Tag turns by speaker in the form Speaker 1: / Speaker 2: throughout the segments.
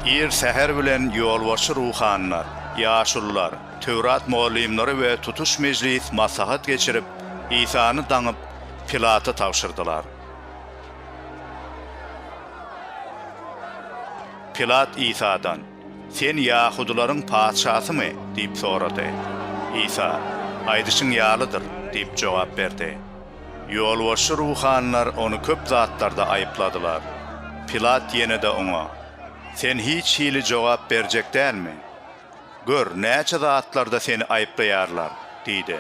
Speaker 1: Ir säher bilen ýolbaşçy ruhanylar, ýaşulular, Töwrat mugallymlary we tutuş mejlis maslahat geçirip, Isany daňyp, Pilata tabşyrdylar. Pilat Isadan. Sen ýahudylaryň patyşasymy? diýip sorady. Isa, Aýdyşyň ýalydyr diýip jogap berdi. Ýolbaşçy ruhanylar ony köp zatlarda aýypladylar. Pilat ýene-de oňa, Sen hiç hili jogap berjek dälmi? Gör, näçe zatlarda seni aýyplaýarlar! diýdi.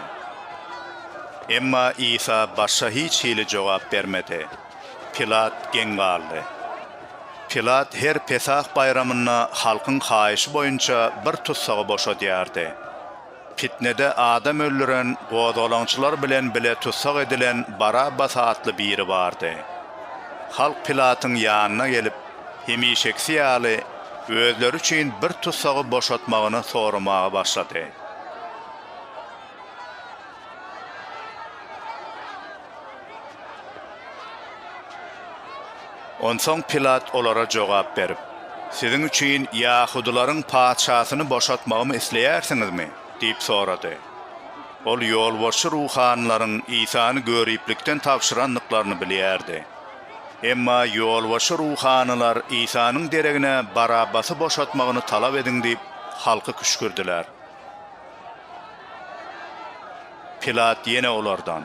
Speaker 1: Emma Isa başga hiç hili jogap bermedi. Pilat geň galdy. Pilat her Pesah baýramynda halkyň haýyşy boýunça bir tussagy boşadýardy. Pitnede adam öldüren, gozgalaňçylar bilen bile tussag edilen Barabbas atly biri bardy. Halk Pilatyň ýanyna gelip, hemişekisi ýaly, özleri üçin bir tussagy boşatmagyny soramaga başlady. Onsoň Pilat olara jogap berip, Siziň üçin ýahudylaryň patyşasyny boşatmagymy isleýärsiňizmi? diýip sorady. Ol ýolbaşçy ruhanylaryň Isany göriplikden tabşyrandyklaryny bilýärdi. Emma ýolbaşçy ruhanylar Isanyň deregine Barabbasy boşatmagyny talap ediň diýip, halky küşgürdiler. Pilat ýene olardan,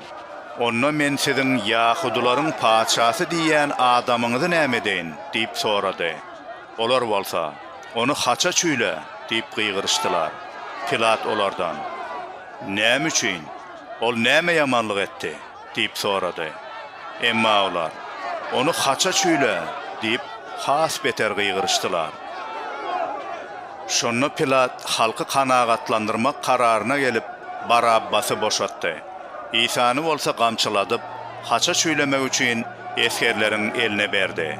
Speaker 1: Onda men siziň ýahudylaryň patyşasy diýýän adamyňyzy näme edeýin? diýip sorady. Olar bolsa, Ony haça çüýle! diýip gygyryşdylar. Pilat olardan, Näme üçin? Ol näme ýamanlyk etdi? Diýip sorady. Emma olar, Ony haça çüýle! diýip, has beter gygyryşdylar. Şonda Pilat halky kanagatlandyrmak kararyna gelip, Barabbasy boşatdy. Isany bolsa gamçyladyp, haça çüýlemek üçin esgerleriň eline berdi.